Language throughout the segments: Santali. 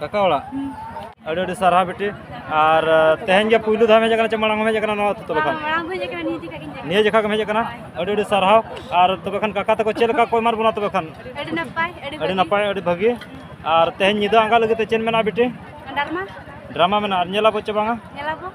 ᱠᱟᱠᱟ ᱚᱲᱟᱜ ᱟᱹᱰᱤ ᱟᱹᱰᱤ ᱥᱟᱨᱦᱟᱣ ᱵᱤᱴᱤ ᱟᱨ ᱛᱮᱦᱮᱧ ᱜᱮ ᱯᱩᱭᱞᱩ ᱫᱷᱟᱣ ᱦᱮᱡ ᱟᱠᱟᱱᱟ ᱪᱮ ᱢᱟᱲᱟᱝ ᱦᱮᱡ ᱟᱠᱟᱱᱟ ᱱᱚᱣᱟ ᱟᱹᱛᱩ ᱛᱚᱵᱮ ᱠᱷᱟᱱ ᱱᱤᱭᱟᱹ ᱡᱚᱠᱷᱟ ᱜᱮᱢ ᱦᱮᱡ ᱟᱠᱟᱱᱟ ᱟᱹᱰᱤ ᱟᱹᱰᱤ ᱥᱟᱨᱦᱟᱣ ᱟᱨ ᱛᱚᱵᱮ ᱠᱷᱟᱱ ᱠᱟᱠᱟ ᱛᱟᱠᱚ ᱪᱮᱫ ᱞᱮᱠᱟ ᱠᱚ ᱮᱢᱟᱫ ᱵᱚᱱᱟ ᱛᱚᱵᱮ ᱠᱷᱟᱱ ᱟᱹᱰᱤ ᱱᱟᱯᱟᱭ ᱟᱹᱰᱤ ᱱᱟᱯᱟᱭ ᱟᱹᱰᱤ ᱵᱷᱟᱹᱜᱤ ᱟᱨ ᱛᱮᱦᱮᱧ ᱧᱤᱫᱟᱹ ᱟᱸᱜᱟ ᱞᱟᱹᱜᱤᱫ ᱛᱮ ᱪᱮᱫ ᱢᱮᱱᱟᱜᱼᱟ ᱵᱤᱴᱤ ᱰᱨᱟᱢᱟ ᱰᱨᱟᱢᱟ ᱢᱮᱱᱟᱜᱼᱟ ᱧᱮᱞᱟᱵᱚ ᱪᱮ ᱵᱟᱝᱟ ᱧᱮᱞᱟᱵᱚ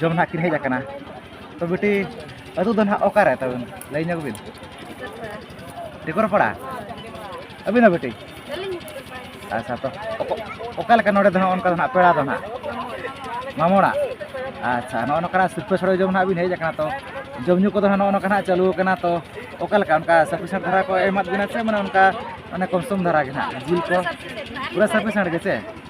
ᱡᱚᱢ ᱱᱟᱦᱟᱜ ᱠᱤᱱ ᱦᱮᱡ ᱟᱠᱟᱱᱟ ᱛᱚ ᱵᱤᱴᱤ ᱟᱹᱛᱩ ᱫᱚ ᱱᱟᱦᱟᱜ ᱚᱠᱟᱨᱮ ᱛᱟᱵᱮᱱ ᱞᱟᱹᱭ ᱧᱚᱜ ᱵᱤᱱ ᱴᱤᱠᱚᱨᱯᱟᱲᱟ ᱟᱹᱵᱤᱱ ᱦᱚᱸ ᱵᱤᱴᱤ ᱟᱪᱪᱷᱟ ᱛᱚ ᱚᱠᱟ ᱞᱮᱠᱟ ᱱᱚᱰᱮ ᱫᱚ ᱱᱟᱦᱟᱜ ᱚᱱᱠᱟ ᱫᱚ ᱱᱟᱦᱟᱜ ᱯᱮᱲᱟ ᱫᱚ ᱱᱟᱦᱟᱜ ᱢᱟᱢᱚᱲᱟ ᱟᱪᱪᱷᱟ ᱱᱚᱜᱼᱚ ᱱᱚᱝᱠᱟᱱᱟᱜ ᱥᱤᱨᱯᱟᱹ ᱥᱚᱲᱮ ᱡᱚᱢ ᱱᱟᱦᱟᱜ ᱵᱤᱱ ᱦᱮᱡ ᱟᱠᱟᱱᱟ ᱛᱚ ᱡᱚᱢ ᱧᱩ ᱠᱚᱫᱚ ᱱᱟᱦᱟᱜ ᱱᱚᱜᱼᱚ ᱱᱚᱝᱠᱟ ᱱᱟᱦᱟᱜ ᱪᱟᱹᱞᱩ ᱟᱠᱟᱱᱟ ᱛᱚ ᱚᱠᱟ ᱞᱮᱠᱟ ᱚᱱᱠᱟ ᱥᱟᱯᱷᱤᱥᱮᱱᱴ ᱫᱷᱟᱨᱟ ᱠᱚ ᱮᱢᱟᱫ ᱵᱤᱱᱟ ᱥᱮ ᱢᱟᱱᱮ ᱚᱱᱠᱟ ᱢᱟᱱᱮ ᱠᱚᱢ ᱥᱚᱢ ᱫᱷᱟᱨᱟ ᱜᱮ ᱱᱟᱦᱟᱜ ᱡᱤᱞ ᱠᱚ ᱯᱩᱨᱟᱹ ᱥᱟᱯᱷᱤᱥᱮᱱᱴ ᱜᱮ ᱥᱮ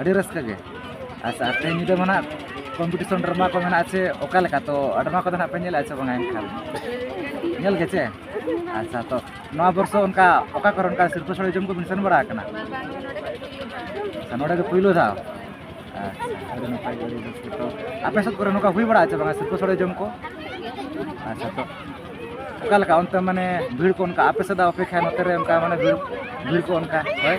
ᱟᱹᱰᱤ ᱨᱟᱹᱥᱠᱟᱹ ᱜᱮ ᱟᱪᱪᱷᱟ ᱛᱮᱦᱮᱧ ᱧᱤᱫᱟᱹ ᱢᱟ ᱱᱟᱦᱟᱜ ᱠᱚᱢᱯᱤᱴᱤᱥᱚᱱ ᱰᱨᱟᱢᱟ ᱠᱚ ᱢᱮᱱᱟᱜᱼᱟ ᱪᱮ ᱚᱠᱟ ᱞᱮᱠᱟ ᱛᱚ ᱰᱨᱟᱢᱟ ᱠᱚᱫᱚ ᱱᱟᱦᱟᱜ ᱯᱮ ᱧᱮᱞᱮᱫᱼᱟ ᱪᱮ ᱵᱟᱝᱟ ᱮᱱᱠᱷᱟᱱ ᱧᱮᱞ ᱜᱮ ᱪᱮ ᱟᱪᱪᱷᱟ ᱛᱚ ᱱᱚᱣᱟ ᱵᱚᱨᱥᱚ ᱚᱱᱠᱟ ᱚᱠᱟ ᱠᱚᱨᱮ ᱚᱱᱠᱟ ᱥᱤᱞᱯᱟᱹ ᱥᱳᱲᱮ ᱡᱚᱢ ᱠᱚᱵᱤᱱ ᱥᱮᱱ ᱵᱟᱲᱟ ᱟᱠᱟᱱᱟ ᱟᱪᱪᱷᱟ ᱱᱚᱰᱮ ᱜᱮ ᱯᱳᱭᱞᱳ ᱫᱷᱟᱣ ᱟᱪᱪᱷᱟ ᱟᱹᱰᱤ ᱱᱟᱯᱟᱭ ᱜᱮ ᱟᱹᱰᱤ ᱨᱟᱹᱥᱠᱟᱹ ᱛᱚ ᱟᱯᱮ ᱥᱮᱫ ᱠᱚᱨᱮ ᱱᱚᱝᱠᱟ ᱦᱩᱭ ᱵᱟᱲᱟᱜᱼᱟ ᱪᱮ ᱵᱟᱝᱟ ᱥᱤᱞᱯᱟᱹ ᱥᱳᱲᱮ ᱡᱚᱢ ᱠᱚ ᱟᱪᱪᱷᱟ ᱛᱚ ᱚᱠᱟ ᱞᱮᱠᱟ ᱚᱱᱛᱮ ᱢᱟᱱᱮ ᱵᱷᱤᱲ ᱠᱚ ᱚᱱᱠᱟ ᱟᱯᱮ ᱥᱮᱫᱟᱜ ᱚᱯᱮᱠᱷᱟ ᱱᱚᱛᱮ ᱨᱮ ᱚᱱᱠᱟ ᱢᱟᱱᱮ ᱵᱷᱤᱲ ᱵᱷᱤᱲ ᱠᱚ ᱚᱱᱠᱟ ᱦᱳᱭ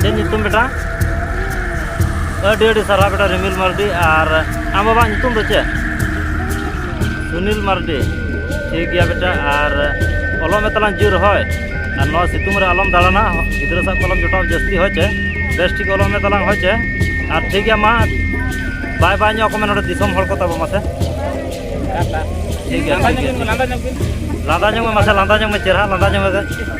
ᱪᱮᱫ ᱧᱩᱛᱩᱢ ᱵᱮᱴᱟ ᱟᱹᱰᱤ ᱟᱹᱰᱤ ᱥᱟᱨᱦᱟᱣ ᱵᱮᱴᱟ ᱨᱤᱢᱤᱞ ᱢᱟᱨᱰᱤ ᱟᱨ ᱟᱢ ᱵᱟᱵᱟ ᱧᱩᱛᱩᱢ ᱫᱚ ᱪᱮᱫ ᱥᱩᱱᱤᱞ ᱢᱟᱨᱰᱤ ᱴᱷᱤᱠ ᱜᱮᱭᱟ ᱵᱮᱴᱟ ᱟᱨ ᱚᱞᱚᱜ ᱢᱮ ᱛᱟᱞᱟᱝ ᱡᱳᱨ ᱦᱳᱭ ᱟᱨ ᱱᱚᱣᱟ ᱥᱤᱛᱩᱝ ᱨᱮ ᱟᱞᱚᱢ ᱫᱟᱬᱟᱱᱟ ᱜᱤᱫᱽᱨᱟᱹ ᱥᱟᱶ ᱠᱚᱞᱚᱢ ᱡᱚᱴᱟᱣ ᱡᱟᱹᱥᱛᱤ ᱦᱳᱭ ᱪᱮ ᱵᱮᱥ ᱴᱷᱤᱠ ᱚᱞᱚᱜ ᱢᱮ ᱛᱟᱞᱟᱝ ᱦᱳᱭ ᱪᱮ ᱟᱨ ᱴᱷᱤᱠ ᱜᱮᱭᱟ ᱢᱟ ᱵᱟᱭ ᱵᱟᱭ ᱧᱚᱜ ᱠᱚ ᱢᱮ ᱱᱚᱰᱮ ᱫᱤᱥᱚᱢ ᱦᱚᱲ ᱠᱚ ᱛᱟᱵᱚ ᱢᱟᱥᱮ ᱴᱷᱤᱠ ᱜᱮᱭᱟ ᱴᱷᱤᱠ ᱜᱮᱭᱟ ᱞᱟᱸᱫᱟ ᱧᱚᱜ ᱢᱮ ᱢᱟᱥᱮ ᱞᱟᱸᱫᱟ ᱧᱚᱜ ᱢᱮ ᱪᱮᱨᱦᱟ ᱞᱟᱸᱫᱟ ᱧᱚᱜ ᱢᱮ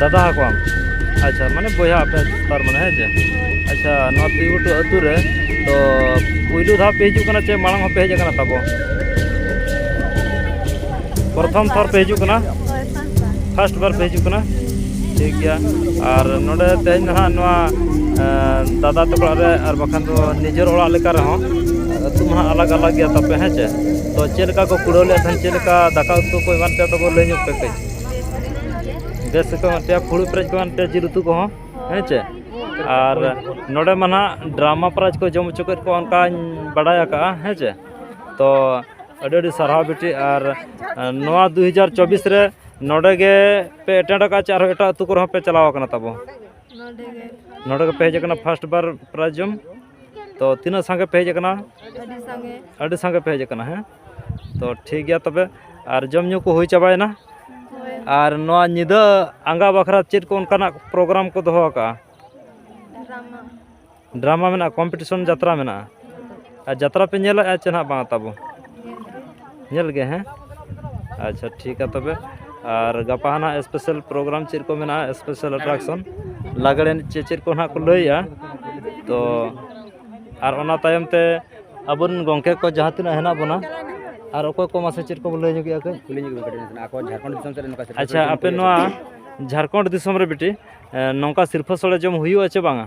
ᱫᱟᱫᱟ ᱟᱠᱚᱣᱟᱢ ᱟᱪᱪᱷᱟ ᱢᱟᱱᱮ ᱵᱚᱭᱦᱟ ᱟᱯᱮ ᱛᱟᱨ ᱢᱟᱱᱮ ᱦᱮᱸ ᱪᱮ ᱟᱪᱪᱷᱟ ᱱᱚᱣᱟ ᱛᱩᱭᱩᱴᱩ ᱟᱹᱛᱩ ᱨᱮ ᱛᱚ ᱯᱩᱭᱞᱩ ᱫᱷᱟᱣ ᱯᱮ ᱦᱤᱡᱩᱜ ᱠᱟᱱᱟ ᱪᱮ ᱢᱟᱲᱟᱝ ᱦᱚᱸᱯᱮ ᱦᱮᱡ ᱟᱠᱟᱱᱟ ᱛᱟᱵᱚ ᱯᱨᱚᱛᱷᱚᱢ ᱛᱷᱚᱨ ᱯᱮ ᱦᱤᱡᱩᱜ ᱠᱟᱱᱟ ᱯᱷᱟᱥᱴ ᱵᱟᱨ ᱯᱮ ᱦᱤᱡᱩᱜ ᱠᱟᱱᱟ ᱴᱷᱤᱠ ᱜᱮᱭᱟ ᱟᱨ ᱱᱚᱰᱮ ᱛᱮᱦᱮᱧ ᱱᱟᱦᱟᱜ ᱱᱚᱣᱟ ᱫᱟᱫᱟ ᱛᱟᱠᱚ ᱚᱲᱟᱜ ᱨᱮ ᱟᱨ ᱵᱟᱠᱷᱟᱱ ᱫᱚ ᱱᱤᱡᱮᱨ ᱚᱲᱟᱜ ᱞᱮᱠᱟ ᱨᱮᱦᱚᱸ ᱟᱹᱛᱩ ᱢᱟ ᱦᱟᱸᱜ ᱟᱞᱟᱜᱽ ᱟᱞᱟᱜᱽ ᱜᱮᱭᱟ ᱛᱟᱯᱮ ᱦᱮᱸ ᱪᱮ ᱛᱚ ᱪᱮᱫ ᱞᱮᱠᱟ ᱠᱚ ᱠᱩᱲᱟᱹᱣ ᱞᱮᱫ ᱛᱟᱦᱮᱸᱫ ᱪᱮᱫ ᱞᱮᱠᱟ ᱫᱟᱠᱟ ᱩᱛᱩ ᱠᱚ ᱮᱢᱟᱱ ᱛᱮᱭᱟᱜ ᱛᱟᱵᱚ ᱞᱟᱹᱭ ᱧᱚᱜ ᱯᱮ ᱠᱟᱹᱡ ᱵᱮᱥ ᱜᱮᱠᱚ ᱮᱢᱟᱫ ᱯᱮᱭᱟ ᱯᱷᱩᱲᱩᱜ ᱯᱮᱨᱮᱡ ᱠᱚ ᱮᱢᱟᱫ ᱯᱮᱭᱟ ᱡᱤᱞ ᱩᱛᱩ ᱠᱚᱦᱚᱸ ᱦᱮᱸ ᱪᱮ ᱟᱨ ᱱᱚᱰᱮ ᱢᱟ ᱱᱟᱦᱟᱜ ᱰᱨᱟᱢᱟ ᱯᱨᱟᱭᱤᱡᱽ ᱠᱚ ᱡᱚᱢ ᱦᱚᱪᱚ ᱠᱮᱫ ᱠᱚᱣᱟ ᱚᱱᱠᱟᱧ ᱵᱟᱰᱟᱭ ᱟᱠᱟᱫᱼᱟ ᱦᱮᱸ ᱪᱮ ᱛᱚ ᱟᱹᱰᱤ ᱟᱹᱰᱤ ᱥᱟᱨᱦᱟᱣ ᱵᱤᱴᱤ ᱟᱨ ᱱᱚᱣᱟ ᱫᱩ ᱦᱟᱡᱟᱨ ᱪᱚᱵᱵᱤᱥ ᱨᱮ ᱱᱚᱰᱮ ᱜᱮ ᱯᱮ ᱮᱴᱮᱱᱰ ᱟᱠᱟᱫᱼᱟ ᱪᱮ ᱟᱨᱦᱚᱸ ᱮᱴᱟᱜ ᱟᱹᱛᱩ ᱠᱚᱨᱮ ᱦᱚᱸᱯᱮ ᱪᱟᱞᱟᱣ ᱟᱠᱟᱱᱟ ᱛᱟᱵᱚ ᱱᱚᱰᱮ ᱜᱮᱯᱮ ᱦᱮᱡ ᱟᱠᱟᱱᱟ ᱯᱷᱟᱥᱴ ᱵᱟᱨ ᱯᱨᱟᱭᱤᱡᱽ ᱡᱚᱢ ᱛᱚ ᱛᱤᱱᱟᱹᱜ ᱥᱟᱸᱜᱮ ᱯᱮ ᱦᱮᱡ ᱟᱠᱟᱱᱟ ᱟᱹᱰᱤ ᱥᱟᱸᱜᱮ ᱟᱹᱰᱤ ᱥᱟᱸᱜᱮ ᱯᱮ ᱦᱮᱡ ᱟᱠᱟᱱᱟ ᱦᱮᱸ ᱛᱚ ᱴᱷᱤᱠ ᱜᱮᱭᱟ ᱛᱚᱵᱮ ᱟᱨ ᱡᱚᱢ ᱧᱩ ᱠᱚ ᱦᱩᱭ ᱪᱟᱵᱟᱭᱮᱱᱟ ᱦᱳᱭ ᱟᱨ ᱱᱚᱣᱟ ᱧᱤᱫᱟᱹ ᱟᱸᱜᱟ ᱵᱟᱠᱷᱨᱟ ᱪᱮᱫ ᱠᱚ ᱚᱱᱠᱟᱱᱟᱜ ᱯᱨᱳᱜᱨᱟᱢ ᱠᱚ ᱫᱚᱦᱚ ᱟᱠᱟᱜᱼᱟ ᱰᱨᱟᱢᱟ ᱰᱨᱟᱢᱟ ᱢᱮᱱᱟᱜᱼᱟ ᱠᱚᱢᱯᱤᱴᱤᱥᱚᱱ ᱡᱟᱛᱨᱟ ᱢᱮᱱᱟᱜᱼᱟ ᱟᱨ ᱡᱟᱛᱨᱟ ᱯᱮ ᱧᱮᱞᱮᱫᱼᱟ ᱪᱮ ᱦᱟᱸᱜ ᱵᱟᱝ ᱛᱟᱵᱚ ᱧᱮᱞ ᱜᱮ ᱦᱮᱸ ᱟᱪᱪᱷᱟ ᱴᱷᱤᱠᱟ ᱛᱚᱵᱮ ᱟᱨ ᱜᱟᱯᱟ ᱦᱟᱸᱜ ᱥᱯᱮᱥᱟᱞ ᱯᱨᱳᱜᱨᱟᱢ ᱪᱮᱫ ᱠᱚ ᱢᱮᱱᱟᱜᱼᱟ ᱥᱯᱮᱥᱟᱞ ᱮᱴᱨᱟᱠᱥᱚᱱ ᱞᱟᱜᱽᱬᱮ ᱮᱱᱮᱡ ᱪᱮᱫ ᱪᱮᱫ ᱠᱚ ᱦᱟᱸᱜ ᱠᱚ ᱞᱟᱹᱭᱮᱫᱼᱟ ᱛᱚ ᱟᱨ ᱚᱱᱟ ᱛᱟᱭᱚᱢ ᱛᱮ ᱟᱵᱚ ᱨᱮᱱ ᱜᱚᱢᱠᱮ ᱠᱚ ᱡᱟᱦᱟᱸ ᱛᱤᱱᱟᱹᱜ ᱦᱮᱱᱟᱜ ᱵᱚᱱᱟ ᱟᱨ ᱚᱠᱚᱭ ᱠᱚ ᱢᱟᱥᱮ ᱪᱮᱫ ᱠᱚᱵᱚᱱ ᱞᱟᱹᱭ ᱧᱚᱜᱮᱜᱼᱟ ᱠᱟᱹᱡ ᱠᱩᱞᱤ ᱧᱚᱜ ᱠᱟᱹᱴᱤᱡ ᱱᱟᱥᱮᱱᱟᱜ ᱟᱠᱚ ᱡᱷᱟᱲᱠᱷᱚᱸᱰ ᱫᱤᱥᱚᱢ ᱥᱮᱫ ᱨᱮ ᱱᱚᱝᱠᱟ ᱥᱤᱨᱯᱟᱹ ᱟᱪᱪᱷᱟ ᱥᱚᱲᱮ ᱟᱯᱮ ᱡᱚᱢ ᱱᱚᱣᱟ ᱡᱷᱟᱲᱠᱷᱚᱸᱰ ᱫᱤᱥᱚᱢ ᱨᱮ ᱵᱤᱴᱤ ᱱᱚᱝᱠᱟ ᱥᱤᱨᱯᱟᱹ ᱥᱚᱲᱮ ᱡᱚᱢ ᱦᱩᱭᱩᱜᱼᱟ ᱪᱮ ᱵᱟᱝᱟ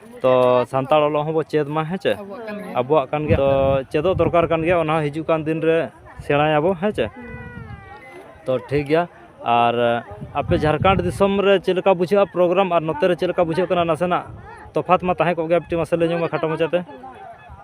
ᱛᱚ ᱥᱟᱱᱛᱟᱲ ᱚᱞᱚᱜ ᱦᱚᱸᱵᱚ ᱪᱮᱫ ᱢᱟ ᱦᱮᱸ ᱪᱮ ᱟᱵᱚᱣᱟᱜ ᱠᱟᱱ ᱜᱮᱭᱟ ᱛᱚ ᱪᱮᱫᱚᱜ ᱫᱚᱨᱠᱟᱨ ᱠᱟᱱ ᱜᱮᱭᱟ ᱚᱱᱟ ᱦᱤᱡᱩᱜ ᱠᱟᱱ ᱫᱤᱱ ᱨᱮ ᱥᱮᱬᱟᱭᱟᱵᱚ ᱦᱮᱸ ᱪᱮ ᱛᱚ ᱴᱷᱤᱠ ᱜᱮᱭᱟ ᱟᱨ ᱟᱯᱮ ᱡᱷᱟᱲᱠᱷᱚᱸᱰ ᱫᱤᱥᱚᱢ ᱨᱮ ᱪᱮᱫ ᱞᱮᱠᱟ ᱵᱩᱡᱷᱟᱹᱜᱼᱟ ᱯᱨᱳᱜᱨᱟᱢ ᱟᱨ ᱱᱚᱛᱮ ᱨᱮ ᱪᱮᱫ ᱞᱮᱠᱟ ᱵᱩᱡᱷᱟᱹᱜ ᱠᱟᱱᱟ ᱱᱟᱥᱮᱱᱟᱜ ᱛᱚᱯᱷᱟᱛ ᱢᱟ ᱛᱟᱦᱮᱸ ᱠᱚᱜ ᱜᱮᱭᱟ ᱠᱟᱹᱴᱤᱡ ᱢᱟᱥᱮ ᱞᱟᱹᱭ ᱧᱚᱜᱽ ᱢᱮ ᱠᱷᱟᱴᱚ ᱢᱟᱪᱷᱟᱛᱮ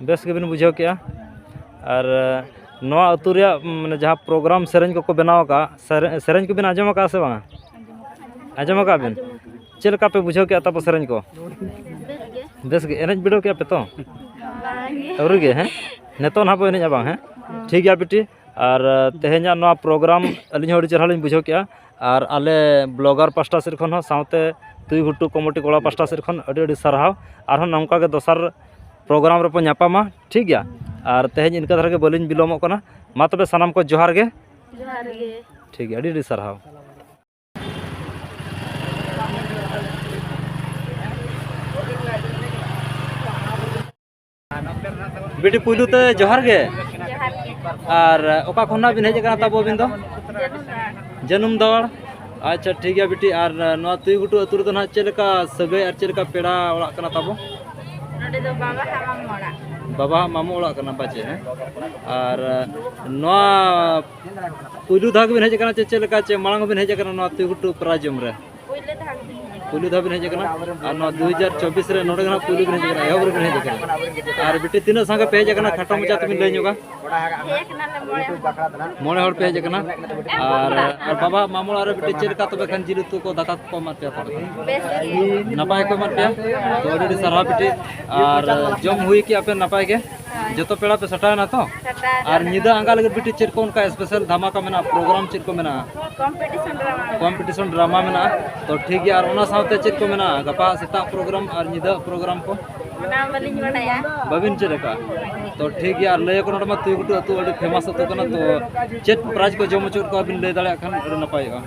ᱵᱮᱥ ᱜᱮᱵᱤᱱ ᱵᱩᱡᱷᱟᱹᱣ ᱠᱮᱜᱼᱟ ᱟᱨ ᱱᱚᱣᱟ ᱟᱹᱛᱩ ᱨᱮᱭᱟᱜ ᱢᱟᱱᱮ ᱡᱟᱦᱟᱸ ᱯᱨᱳᱜᱨᱟᱢ ᱥᱮᱨᱮᱧ ᱠᱚᱠᱚ ᱵᱮᱱᱟᱣ ᱠᱟᱜᱼᱟ ᱥᱮᱨᱮᱧ ᱥᱮᱨᱮᱧ ᱠᱚᱵᱤᱱ ᱟᱸᱡᱚᱢ ᱠᱟᱜᱼᱟ ᱥᱮ ᱵᱟᱝᱟ ᱟᱸᱡᱚᱢ ᱠᱟᱜᱼᱟ ᱵᱤᱱ ᱪᱮᱫ ᱞᱮᱠᱟ ᱯᱮ ᱵᱩᱡᱷᱟᱹᱣ ᱠᱮᱜᱼᱟ ᱛᱟᱨᱯᱚᱨ ᱥᱮᱨᱮᱧ ᱠᱚ ᱵᱮᱥ ᱜᱮ ᱮᱱᱮᱡ ᱵᱤᱰᱟᱹᱣ ᱠᱮᱜᱼᱟ ᱯᱮ ᱛᱚ ᱟᱹᱣᱨᱤ ᱜᱮ ᱦᱮᱸ ᱱᱤᱛᱚᱜ ᱱᱟᱦᱟᱜ ᱵᱚᱱ ᱮᱱᱮᱡᱼᱟ ᱵᱟᱝ ᱦᱮᱸ ᱴᱷᱤᱠ ᱜᱮᱭᱟ ᱵᱤᱴᱤ ᱟᱨ ᱛᱮᱦᱮᱧᱟᱜ ᱱᱚᱣᱟ ᱯᱨᱳᱜᱨᱟᱢ ᱟᱹᱞᱤᱧ ᱦᱚᱸ ᱟᱹᱰᱤ ᱪᱮᱦᱨᱟ ᱞᱤᱧ ᱵᱩᱡᱷᱟᱹᱣ ᱠᱮᱫᱼᱟ ᱟᱨ ᱟᱞᱮ ᱵᱞᱚᱜᱟᱨ ᱯᱟᱥᱴᱟ ᱥᱮᱫ ᱠᱷᱚᱱ ᱦᱚᱸ ᱥᱟᱶᱛᱮ ᱛᱩᱭᱩ ᱜᱷᱩᱴᱩ ᱠᱚᱢᱤᱴᱤ ᱠᱚᱲᱟ ᱯᱟᱥᱴᱟ ᱥᱮᱫ ᱠᱷᱚᱱ ᱟᱹᱰᱤ ᱟᱹᱰᱤ ᱥᱟᱨᱦᱟᱣ ᱟᱨᱦᱚᱸ ᱱᱚᱝᱠᱟ ᱜᱮ ᱫᱚᱥᱟᱨ ᱯᱨᱳᱜᱨᱟᱢ ᱨᱮᱵᱚᱱ ᱧᱟᱯᱟᱢᱟ ᱴᱷᱤᱠ ᱜᱮᱭᱟ ᱟᱨ ᱛᱮᱦᱮᱧ ᱤᱱᱠᱟᱹ ᱫᱷᱟᱨᱟ ᱜᱮ ᱵᱟᱹᱞᱤᱧ ᱵᱤᱞᱚᱢᱚᱜ ᱠᱟᱱᱟ ᱢᱟ ᱛᱚᱵᱮ ᱥᱟᱱᱟᱢ ᱠᱚ ᱡᱚᱦᱟᱨ ᱜᱮ ᱡᱚᱦᱟᱨ ᱜᱮ ᱴᱷᱤᱠ ᱜᱮᱭᱟ ᱟᱹᱰᱤ ᱟᱹᱰᱤ ᱥᱟᱨᱦᱟᱣ ᱵᱤᱴᱤ ᱯᱩᱭᱞᱩ ᱛᱮ ᱡᱚᱦᱟᱨ ᱜᱮ ᱟᱨ ᱚᱠᱟ ᱠᱷᱚᱱᱟᱜ ᱵᱤᱱ ᱦᱮᱡ ᱟᱠᱟᱱᱟ ᱛᱟᱵᱚ ᱟᱹᱵᱤᱱ ᱫᱚ ᱡᱟᱹᱱᱩᱢ ᱫᱚᱲ ᱟᱪᱪᱷᱟ ᱴᱷᱤᱠ ᱜᱮᱭᱟ ᱵᱤᱴᱤ ᱟᱨ ᱱᱚᱣᱟ ᱛᱩᱭ ᱜᱷᱩᱴᱩ ᱟᱹᱛᱩ ᱨᱮᱫᱚ ᱱᱟᱦᱟᱜ ᱪᱮᱫ ᱞᱮᱠᱟ ᱥᱟᱹᱜᱟᱹᱭ ᱟᱨ ᱪᱮᱫ ᱞᱮᱠᱟ ᱯᱮᱲᱟ ᱚᱲᱟᱜ ᱠᱟᱱᱟ ᱛᱟᱵᱚ ᱱᱚᱰᱮ ᱫᱚ ᱵᱟᱵᱟ ᱦᱟᱜ ᱢᱟᱢ ᱚᱲᱟᱜ ᱵᱟᱵᱟ ᱦᱟᱜ ᱢᱟᱢᱚ ᱚᱲᱟᱜ ᱠᱟᱱᱟ ᱯᱟᱪᱮ ᱦᱮᱸ ᱟᱨ ᱱᱚᱣᱟ ᱯᱩᱭᱞᱩ ᱫᱷᱟᱣ ᱜᱮᱵᱤᱱ ᱦᱮᱡ ᱟᱠᱟᱱᱟ ᱪᱮ ᱪᱮᱫ ᱞᱮᱠᱟ ᱪᱮ ᱢᱟᱲᱟᱝ ᱦᱚᱸᱵᱤᱱ ᱦᱮᱡ ᱟᱠᱟᱱᱟ ᱱᱚᱣᱟ ᱛᱩᱭ ᱜᱷᱩᱴᱩ ᱯᱨᱟᱭ ᱡᱚᱢ ᱨᱮ ᱯᱩᱭᱞᱩ ᱫᱷᱟᱣ ᱵᱤᱱ ᱦᱮᱡ ᱟᱠᱟᱱᱟ ᱟᱨ ᱱᱚᱣᱟ ᱫᱩ ᱦᱟᱡᱟᱨ ᱪᱚᱵᱵᱤᱥ ᱨᱮ ᱱᱚᱰᱮ ᱜᱮ ᱯᱩᱭᱞᱩ ᱵᱤᱱ ᱦᱮᱡ ᱟᱠᱟᱱᱟ ᱮᱦᱚᱵ ᱨᱮᱵᱤᱱ ᱦᱮᱡ ᱟᱠᱟᱱᱟ ᱟᱨ ᱵᱤᱴᱤ ᱛᱤᱱᱟᱹᱜ ᱥᱟᱸᱜᱮ ᱯᱮ ᱦᱮᱡ ᱟᱠᱟᱱᱟ ᱠᱷᱟᱴᱚ ᱢᱚᱪᱟ ᱛᱮᱵᱤᱱ ᱞᱟᱹᱭ ᱧᱚᱜᱟ ᱢᱚᱬᱮ ᱦᱚᱲ ᱯᱮ ᱦᱮᱡ ᱟᱠᱟᱱᱟ ᱟᱨ ᱟᱨ ᱵᱟᱵᱟ ᱢᱟᱢᱚ ᱚᱲᱟᱜ ᱨᱮ ᱵᱤᱴᱤ ᱪᱮᱫ ᱞᱮᱠᱟ ᱛᱚᱵᱮ ᱠᱷᱟᱱ ᱡᱤᱞ ᱩᱛᱩ ᱠᱚ ᱫᱟᱠᱟ ᱠᱚ ᱮᱢᱟᱫ ᱯᱮᱭᱟ ᱛᱟᱦᱚᱞᱮ ᱱᱟᱯᱟᱭ ᱠᱚ ᱮᱢᱟᱫ ᱯᱮᱭᱟ ᱛᱚ ᱟᱹᱰᱤ ᱟᱹᱰᱤ ᱥᱟᱨᱦᱟᱣ ᱵᱤᱴᱤ ᱟᱨ ᱡᱚᱢ ᱦᱩᱭ ᱠᱮᱜᱼᱟ ᱯᱮ ᱱᱟᱯᱟᱭ ᱜᱮ ᱡᱚᱛᱚ ᱯᱮᱲᱟ ᱯᱮ ᱥᱟᱴᱟᱣᱮᱱᱟ ᱛᱚ ᱟᱨ ᱧᱤᱫᱟᱹ ᱟᱸᱜᱟ ᱞᱟᱹᱜᱤᱫ ᱵᱤᱴᱤ ᱪᱮᱫ ᱠᱚ ᱚᱱᱠᱟ ᱥᱯᱮᱥᱟᱞ ᱫᱷᱟᱢᱟᱠᱟ ᱢᱮᱱᱟᱜᱼᱟ ᱯᱨᱳᱜᱨᱟᱢ ᱪᱮᱫ ᱠᱚ ᱢᱮᱱᱟᱜᱼᱟ ᱠᱚᱢᱯᱤᱴᱤᱥᱚᱱ ᱰᱨᱟᱢᱟ ᱢᱮᱱᱟᱜᱼᱟ ᱛᱚ ᱴᱷᱤᱠ ᱜᱮᱭᱟ ᱟᱨ ᱚᱱᱟ ᱥᱟᱶᱛᱮ ᱪᱮᱫ ᱠᱚ ᱢᱮᱱᱟᱜᱼᱟ ᱜᱟᱯᱟ ᱥᱮᱛᱟᱜ ᱯᱨᱳᱜᱨᱟᱢ ᱟᱨ ᱧᱤᱫᱟᱹ ᱯᱨᱳᱜᱨᱟᱢ ᱠᱚ ᱵᱟᱹᱵᱤᱱ ᱪᱮᱫ ᱟᱠᱟᱫᱼᱟ ᱛᱚ ᱴᱷᱤᱠ ᱜᱮᱭᱟ ᱟᱨ ᱞᱟᱹᱭ ᱟᱠᱚ ᱱᱚᱰᱮ ᱢᱟ ᱛᱩᱭᱩ ᱜᱷᱩᱴᱩ ᱟᱹᱛᱩ ᱟᱹᱰᱤ ᱯᱷᱮᱢᱟᱥ ᱟᱹᱛᱩ ᱠᱟᱱᱟ ᱛᱚ ᱪᱮᱫ ᱯᱨᱟᱭᱤᱡᱽ ᱠᱚ ᱡᱚᱢ ᱦᱚᱪᱚᱭᱮᱫ ᱠᱚᱣᱟ ᱵᱤᱱ ᱞᱟᱹᱭ ᱫᱟᱲᱮᱭᱟᱜ ᱠᱷᱟᱱ ᱟᱹᱰᱤ ᱱᱟᱯᱟᱭᱚᱜᱼᱟ